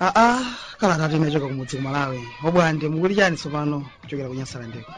aa kalata tinachoka kumudzi ku malawi obwande mukuti chani tsopano kuchokera ku nyasalandeko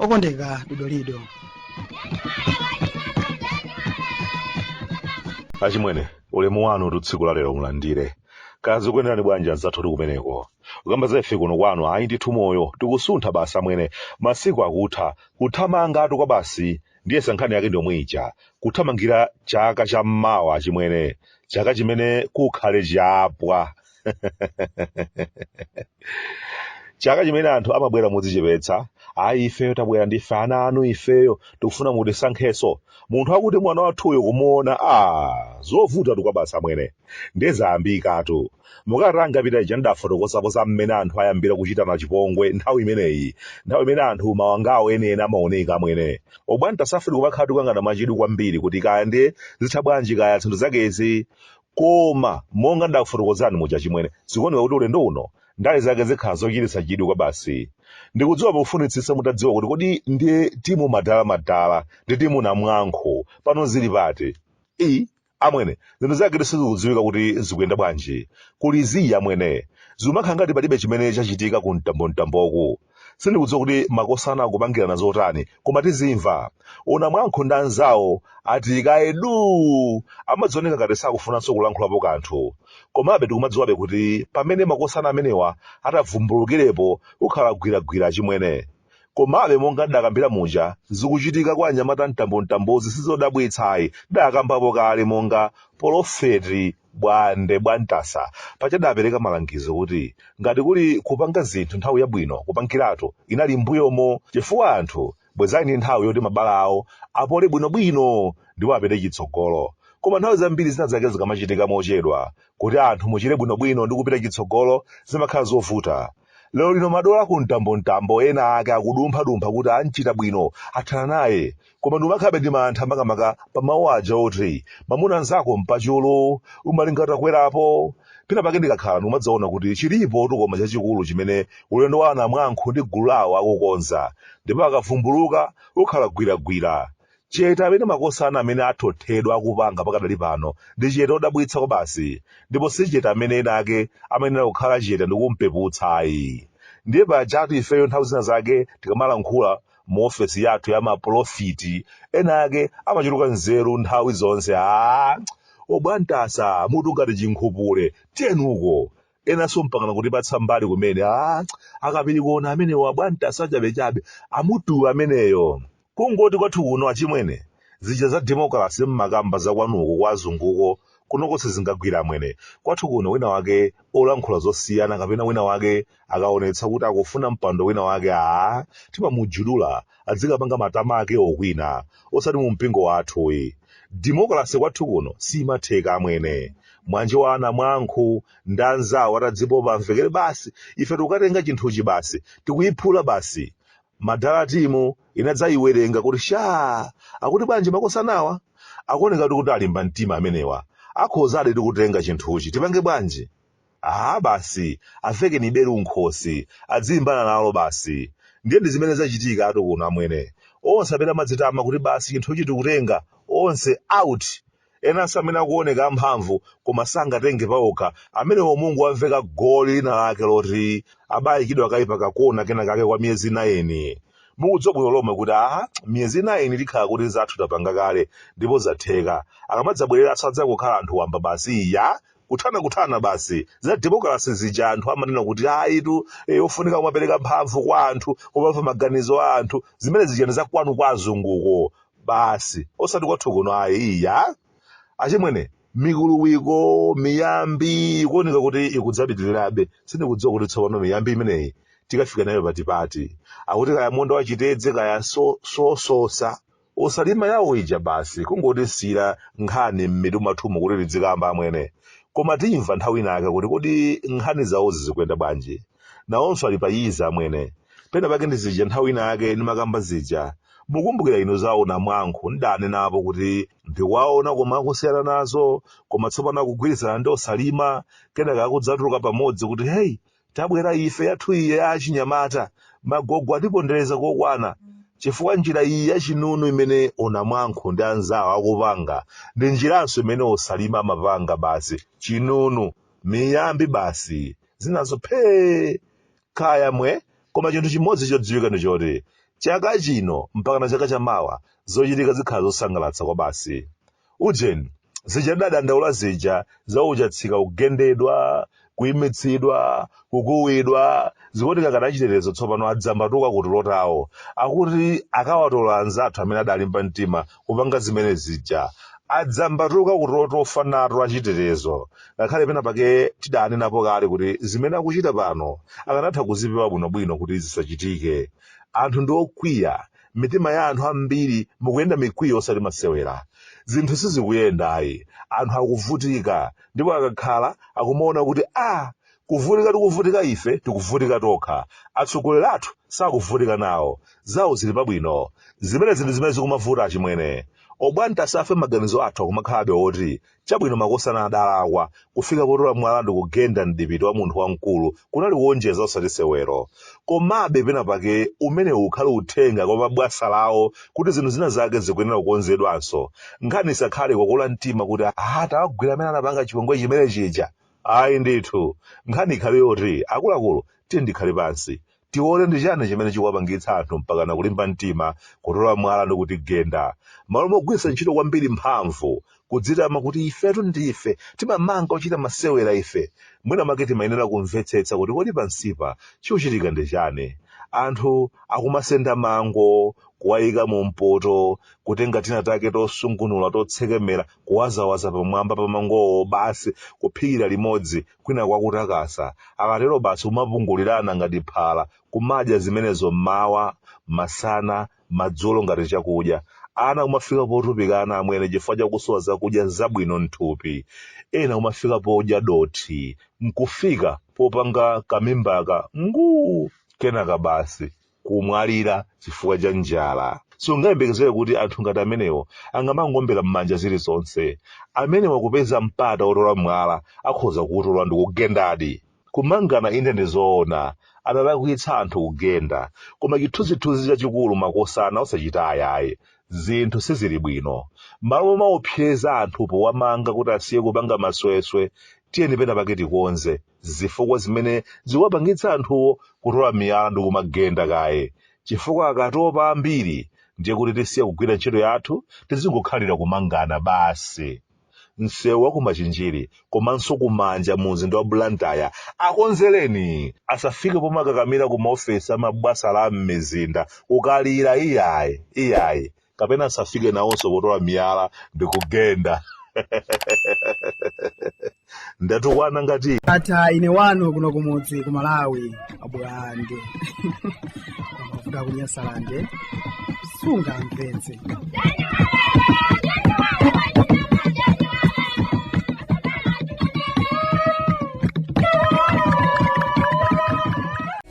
okondeka dodolido achimwene ulemu wanutu tsiku la lero mulandire kaya zikuyenderani bwanji anzathu oti kumeneko kukamba za ife kuno kwanu ayi ndithu moyo tikusuntha basi amwene masiku akutha kuthamangatu kwabasi ndiyesa nkhani yake ndi yomwe ija kuthamangira chaka cha mmawa chimwene chaka chimene kukhale chapwa chaka chimene anthu amabwera modzichepetsa ayi ifeyo tabwera ndife ana anu ifeyo tikufuna mutisankhenso munthu akuti mwana wathuyo kumuona a zovutatu kwabasi amwene nde zayambikatu mu kalata yangopita ija ndidafotokozapo za mmene anthu ayambira kuchitana chipongwe nthawi imeneyi nthawi imene anthu mawanga awo enieni amaoneka amwene obwantasa ife tikumakhala tikuyang'ana mwachidwi kwambiri kuti kaya nde zitha bwanji kaya zinthu zakezi Koma, monga ndakufotokozerani muja, achimwene, zikuoneka kuti ulendo uno ndale zake zikhala zochititsa chidwi kwabasi. Ndikudziwa mukufunitsitsa mutadziwa kuti kodi ndiye timu madala madala ndi timu namwankhu pano zili pati. Ii, amwene, zinthu zake sizikudziwika kuti zikuyenda bwanji. Kuli zii, amwene. Zikumakhala ngati palibe chimene chachitika ku mtambomtamboku. sindikudziwa kuti makosana akupangirana zotani koma tizimva onamwankhu ndi anzawo ati kaye duu amadzioneka ngati sakufunanso kulankhulapo kanthu komabe tikumadziwabe kuti pamene makosana amenewa atavumbulukirepo kukhala gwiragwira achimwene komabe monga ndakambira muja zikuchitika kwa anyamata mtambomtambozi sizodabwitsa ayi tidakambapo kale monga polofeti Bwande Bwantasa paja adapereka malangizo kuti ngati kuli kupanga zinthu nthawi yabwino kupangiratu inali m'mbuyomo chifukwa anthu bwezi ali ndi nthawi yoti mabala awo apole bwinobwino ndipo apite chitsogolo. Koma nthawi zambiri zina zake zikamachitika mochedwa kuti anthu muchire bwinobwino ndi kupita chitsogolo zimakhala zovuta. lero lino madolo a ku mtambomtambo ena ake akudumphadumpha kuti amchita bwino athana naye koma ndikumakhalabe ndi mantha makamaka pa mawu aja oti mamuna nzako mpachulu umalinga utakwerapo pena pake ndikakhala ndikumadzaona kuti chilipotu koma chachikulu chimene ulendo wa anamwankhu ndi gulu lawo akukonza ndipo akavumbuluka kukhala gwiragwira Chete amene makosana amene athothedwa akupanga pakadali pano ndi chete odabwitsa kwabasi ndipo si chete amene ena ake amayenera kukhala chete ndikumpeputsa ayi. Ndiye pajatu ifeyo nthawi zina zake tikamalankhula mu ofesi yathu ya mapolofeti ena ake amachuluka nzeru nthawi zonse aah! Obwantasa mutu ngati chinkhupule tiyeni uko! enanso mpakana kutipatsa mbali kumene ah, akapiri kuona amenewo abwantasa chabechabe amutu ameneyo kungoti kwathu kuno achimwene zija za demokrasi mmakamba zakwanuko kwa azunguko kunoko sizingagwira amwene kwathu kuno wina wake olankhula zosiyana kapena wina wake akaonetsa kuti akufuna mpando wina wake aa timamujudula adzikapanga matama ake okwina osati mu mpingo wathu uyi demokrasi kwathu kuno simatheka amwene mwanje wa anamwankhu ndi anzawo atadzipopa amvekere basi ife tikukatenga chinthuchi basi tikuyiphula basi madala timu inadzayiwerenga kuti sha akuti bwanji makosanawa akuoneka kuti alimba mtima amenewa akhozadi kutenga chinthuchi tipange bwanji aha basi avekeni belu m'khosi adzilimbana nalo basi ndiye ndi zimene zachitikatu kuno amwene onse amene amadzitama kuti basi chinthuchi tikutenga onse out Enanso amene akuoneka amphamvu koma sangatenge paokha, amenewo mungowamveka goli linalake loti abayikidwa kaye pa kakona kenakake kwa miyezi nayini. Mukudziwa bwino lomwe kuti a miyezi nayini tikhala kuti zathu tapanga kale ndipo zatheka. Akamadzabwereranso adzangokhala anthu wamba basi. Iya! Kuthanakuthana basi. Za demokalase zija anthu amanena kuti ayitu eh, ofunika kumapereka mphamvu kwa anthu, kumamva maganizo a anthu. Zimene zija ndi za kwanu kwa azunguko. basi osati kwathu kuno ayi iya achimwene mikuluwiko miyambi ikuoneka kuti ikudzapitirirabe sindikudziwa kuti tsopano miyambi imeneyi tikafika nayo patipati akuti kaya munda wachitedze kaya so- sososa osalima yawo ija basi kungotisiyira nkhani m'mitu mwathumu kuti tidzikamba amwene koma timva nthawi inayake kuti kodi nkhani zawozi zikuyenda bwanji nawonso ali pa yiza amwene pena pake ndi zija nthawi ina yake ndimakamba zija mukumbukira inu za onamwankhu ndidanenapo kuti ndikuwaona koma akusiyana nazo koma tsopano akugwirizana ndi osalima kenaka akudzatuluka pamodzi kuti heyi tabwera ife yathu iye ya achinyamata magogo atipondereza kokwana chifukwa njira iyi yachinunu imene onamwankhu ndi anzawo akupanga ndi njiranso imene osalima amapanga basi chinunu miyambi basi zinazo phee kaya mwe koma chinthu chimodzi chodziwika ndi choti chaka chino mpakana chaka chamawa zochitika zikhala zosangalatsa kwabasi ujeni zija tidadandaula zija za uchatsika kugendedwa kuimitsidwa kukuwidwa zikuoneka ngati achitetezo tsopano adzambatuka kutulo tawo akuti akawatola anzathu amene adalimba mtima kupanga zimene zija adzambatuka kutulo tofa nato achitetezo ngakhale pena pake tidanenapo kale kuti zimene akuchita pano akanatha kuzipewa bwinobwino kuti zisachitike anthu ndi okwiya m'mitima ya anthu ambiri mukuyenda mikwiyo osati masewera zinthu sizikuyenda ayi anthu akuvutika ndipo akakhala akumaona kuti a Kuvutika tikuvutika ife tikuvutika tokha atsogoleri athu sakuvutika nawo zawo zili pabwino zimenezi ndi zimene zikumavuta achimwene obwande asafe maganizo athu akumakhalabe oti chabwino makosana adalakwa kufika potola mwala ndikugenda mdipiti wa munthu wamkulu kunali kuonjeza osati sewero komabe pena pake umenewu ukhale uthenga kwa mabwasalawo kuti zinthu zina zake zikuyenera kukonzedwanso nkhani isakhale kukula mtima kuti aha tawagwira amene anapanga chipongwe chimene chija Ayi ndithu, nkhani ikhale yoti akuluakulu tiyeni tikhale pansi, tione ndi chani chimene chikuwapangitsa anthu mpakana kulimba mtima kutola mwala ndi kutigenda. M'malo mogwiritsa ntchito kwambiri mphamvu kudzitama kuti ifetu ndife timamanga ochita masewera ife, mwina mwake timayenera kumvetsetsa kuti kodi pansipa chikuchitika ndi chani. Anthu akumasenda mango kuwayika mu mpoto, kutenga tina take tosungunula totsekemera. kuwazawaza pamwamba pa mangowo basi kuphikira limodzi kwinaku akutakasa akatero basi kumapungulirana ngati phala kumadya zimenezo mmawa masana madzulo ngati chakudya ana kumafika potupikana amwene chifukwa chakusowa zakudya zabwino mthupi ena kumafika podya dothi nkufika popanga kamimbaka nguu kenaka basi kumwalira chifukwa cha njala siungayembekezere kuti anthu ngati amenewo angamangoombera m'manja zilizonse amenewa kupeza mpata wotola mwala akhoza kuutola ndi kugendadi kumangana inde ndi zoona adalakwitsa anthu kugenda koma chithunzithunzi chachikulu makosana osachita ayayi zinthu sizili bwino malo momaopseza anthu powamanga kuti asiye kupanga masweswe tiyeni pena pake tikonze zifukwa zimene zikuwapangitsa anthuwo kutola miyala ndi kumagenda kaye chifukwa akatopa ambiri ndiye kuti tisiya kugwira ntchito yathu tizingokhalira kumangana basi msewu wa kumachinjiri komanso kumanja mu mzinda wa blantyre akonzereni asafike pomakakamira ku maofesi amabwasala a m'mizinda kukalira iyayi iyayi kapena asafike nawonso potola miyala ndi kugenda ndatukwana ngati ndatha ine wanu kuno kumudzi ku malawi a bwande mafuta kunyasalande sungamvetse